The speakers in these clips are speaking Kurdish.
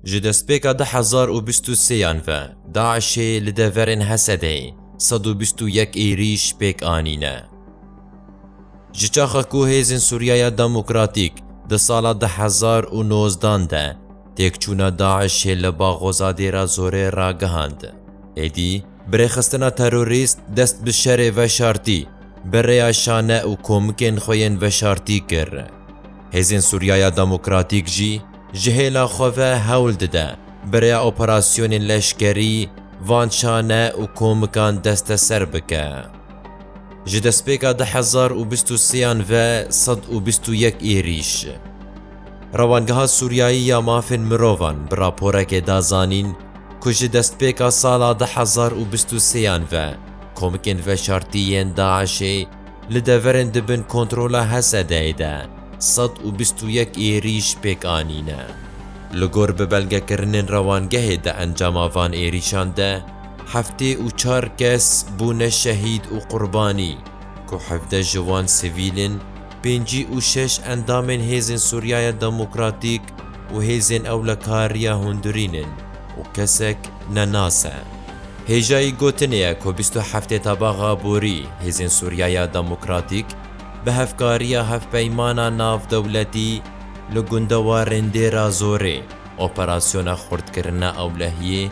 Ji destpêka du hezar û bîst û sêyan ve DAIŞ'ê li deverên Hesedê sed û bîst û yek êrîş pêk anîne. Ji çaxa ku hêzên Sûriyaya Demokratîk di sala du hezar û nozdan de têkçûna DAIŞ'ê li Baxoza Dêra Zorê ragihand, êdî bi rêxistina terorîst dest bi şerê veşartî bi rêya şane û komikên xwe yên veşartî kir. Hêzên Sûriyaya Demokratîk jî ji hêla xwe ve hewl dide bi rêya operasyonên leşkerî van çane û komikan desteser bike. Ji destpêka du hezar û bîst û sêyan ve sed û bîst û yek êrîş. Rewangeha Sûriyayî ya Mafên Mirovan bi raporekê da zanîn ku ji destpêka sala du hezar û bîst û sêyan ve komikên veşartî yên DAIŞ'ê, Li deverên di bin kontrola Hesedeyê de sed û bîst û yek êrîş pêk anîne. Li gor bi belgekirinên rewangehê di encama van êrîşan de heftê û çar kes bûne şehîd û qurbanî ku hevdeh ji wan sivîl in, pêncî û şeş endamên Hêzên Sûriyaya Demokratîk û Hêzên Ewlekariya Hûndurîn in û kesek ne nas e. Hêjayî gotinê ye ku bîst û heftê tabaxa borî Hêzên Sûriyaya Demokratîk bi hevkariya hevpeymana navdewletî li gundewarên Dêra Zorê operasyona xurtkirina ewlehiyê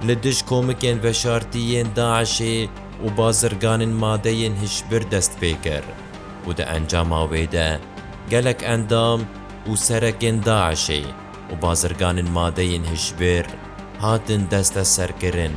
li dij komikên veşartî yên DAIŞ'ê û bazirganên madeyên hişbir dest pê kir û di encama wê de gelek endam û serekên DAIŞ'ê û bazirganên madeyên hişbir hatin desteserkirin.